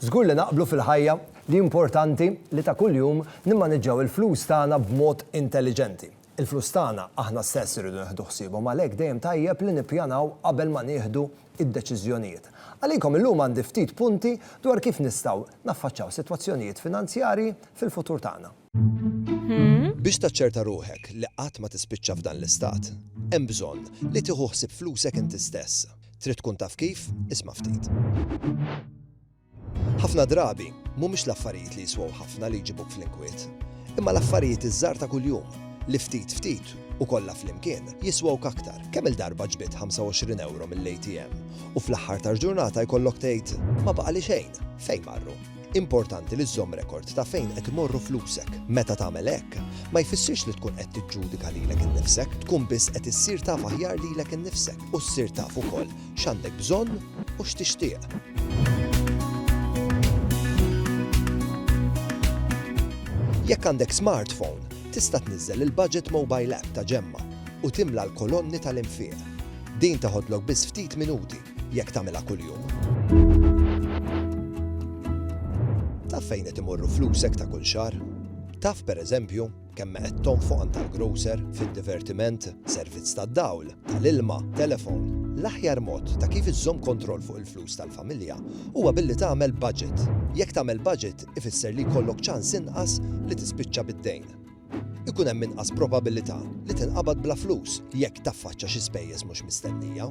Żgur li naqblu fil-ħajja li importanti li ta' kuljum nimmaniġġaw il-flus tagħna b'mod intelliġenti. Il-flus tagħna aħna stess irridu nieħdu ħsiebhom għalhekk dejjem tajjeb li nippjanaw qabel ma nieħdu d-deċiżjonijiet. Għalikom illum għandi ftit punti dwar kif nistgħu naffaċċaw sitwazzjonijiet finanzjarji fil-futur tagħna. Biex taċċerta ruħek li qatt ma tispiċċa f'dan l-istat, hemm bżonn li tieħu ħsieb flusek inti stess. Trid tkun taf kif? Isma' ftit. Ħafna drabi, mhumiex l-affarijiet li jiswaw ħafna li jġibuk fl-inkwiet, imma l-affarijiet iż-żar ta' kuljum li ftit ftit u kollha flimkien jiswaw aktar. Kemm il-darba ġbid 25 euro mill-ATM u fl-aħħar tal-ġurnata jkollok tgħid ma baqa' li xejn fejn marru. Importanti li żżomm rekord ta' fejn qed imorru flusek. Meta tagħmel hekk, ma jfissirx li tkun qed tiġġudika lilek innifsek, tkun biss qed issir taf aħjar lilek innifsek u ssir taf ukoll x'għandek bżonn u x'tixtieq. Jekk għandek smartphone, tista' tniżżel il-Budget Mobile App ta' Ġemma u timla l-kolonni tal-infiq. Din teħodlok biss ftit minuti jekk tagħmilha kuljum. Taf fejn qed imorru flusek ta' kull xahar? Taf pereżempju kemm qed tonfoq għand tal-grocer, fid-divertiment, servizz tad-dawl, tal-ilma, telefon. L-aħjar mod ta' kif iżżomm kontroll fuq il-flus tal-familja huwa billi tagħmel budget. Jekk tagħmel budget ifisser li jkollok ċans inqas li tispiċċa bid-dejn. ikun hemm inqas probabilità li tinqabad bla flus jekk taffaċċa xi spejjeż mhux mistennija.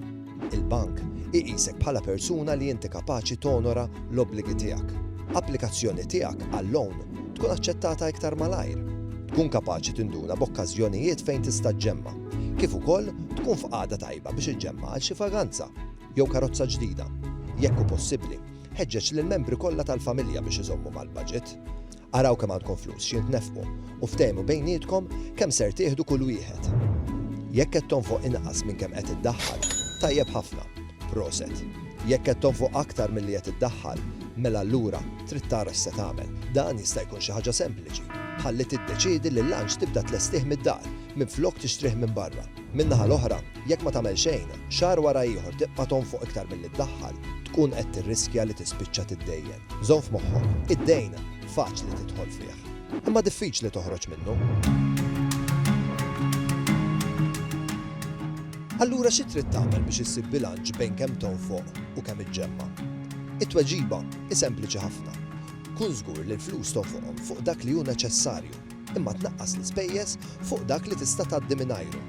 Il-bank iqisek bħala persuna li inti kapaċi tonora l-obbligi tiegħek. Applikazzjoni tiegħek għal loan tkun aċċettata iktar malajr. Tkun kapaċi tinduna b'okkażjonijiet fejn tista' ġġemma, kif ukoll tkun f'qagħda tajba biex iġġemma għal xi vaganza jew karozza ġdida. Jekk hu possibbli, ħeġġeġ lill-membri kollha tal-familja biex iżommu mal-baġit. Araw kemm għandkom flus xi tnefqu u ftehmu bejnietkom kemm ser tieħdu kull wieħed. Jekk qed tonfoq inqas minn kemm qed iddaħħal, tajjeb ħafna, proset. Jekk qed tonfoq aktar milli qed iddaħħal, mela allura trid tara x'se tagħmel. Dan jista' jkun xi ħaġa sempliċi, bħal li tiddeċiedi li l-lunch tibda tlestih mid-dar minflok tixtrih minn barra. Min-naħa l-oħra, jekk ma tagħmel xejn, xahar wara ieħor tibqa' tonfoq iktar milli ddaħħal, tkun qed tirriskja li tispiċċa tiddejjen. Żomm f'moħħok, id-dejn faċli tidħol fih, imma diffiċli toħroġ minnu. Allura xi trid tagħmel biex issib bilanċ bejn kemm tonfoq u kemm iġġemma'? It-tweġiba hi sempliċi ħafna. Kun żgur li l-flus tonfoqhom fuq dak li hu neċessarju. imma tnaqqas l-ispejjeż fuq dak li tista' tgħaddi mingħajru.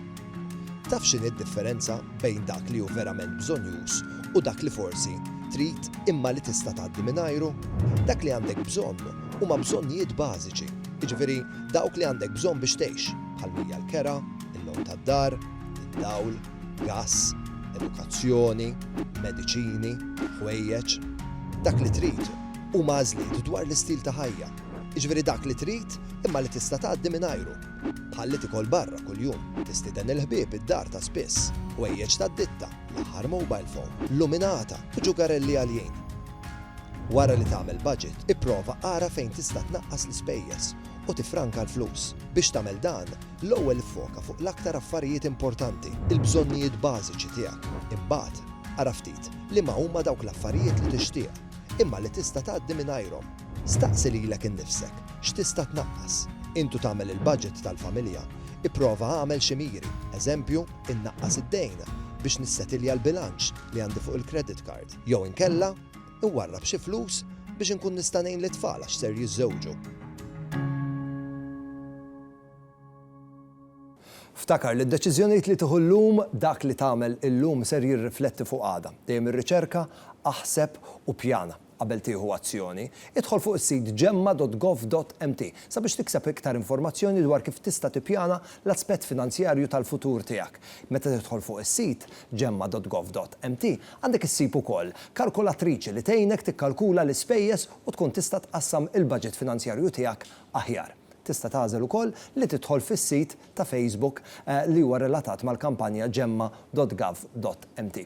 Taf x'inhi d-differenza bejn dak li hu verament bżonnjuż u dak li forsi trid imma li tista' tgħaddi mingħajru? Dak li għandek bżonn huma bżonnijiet bażiċi, jiġifieri dawk li għandek bżonn biex tgħix, bħal mija l-kera, il-logħob tad-dar, id-dawl, gass, edukazzjoni, mediċini, ħwejjeġ. Dak li trid huma għażliet dwar l-istil ta' ħajja. jiġifieri dak li trid imma li tista' tgħaddi mingħajru, bħal li tikol barra kuljum, tistieden il-ħbieb id-dar ta' spiss, ħwejjeġ tad-ditta, l-aħħar mobile phone, luminata u ġugarelli għaljin. Wara li tagħmel budget, ipprova ara fejn tista' tnaqqas l-ispejjeż u tiffranka l-flus. Biex tagħmel dan, l-ewwel iffoka fuq l-aktar affarijiet importanti, il-bżonnijiet bażiċi tiegħek. Imbagħad, ara ftit liema huma dawk l-affarijiet li tixtieq, imma li tista' tgħaddi mingħajrhom. Staqsi lilek innifsek, x'tista' tnaqqas? Intu tagħmel il-baġit tal-familja, ipprova agħmel xi miri, eżempju, innaqqas id-dejn biex nissetilja l-bilanċ li għandi fuq il-credit card, jew inkella, inwarrab xi flus biex inkun nista' ngħin lit-tfal għax ser jiżżewġu. Ftakar li d-deċiżjonijiet li tieħu llum, dak li tagħmel illum ser jirrifletti fuq għada. Dejjem irriċerka, aħseb u ppjana. Qabel tieħu azzjoni, idħol fuq is-sit gemma.gov.mt sabiex tikseb iktar informazzjoni dwar kif tista' tippjana l-aspett finanzjarju tal-futur tiegħek. Meta tidħol fuq is-sit gemma.gov.mt, għandek issib ukoll kalkulatriċi li tgħinek tikkalkula l-ispejjeż u tkun tista' tqassam il-baġit finanzjarju tiegħek aħjar. Tista' tagħżel ukoll li tidħol fis-sit ta' Facebook li huwa relatat mal-kampanja gemma.gov.mt.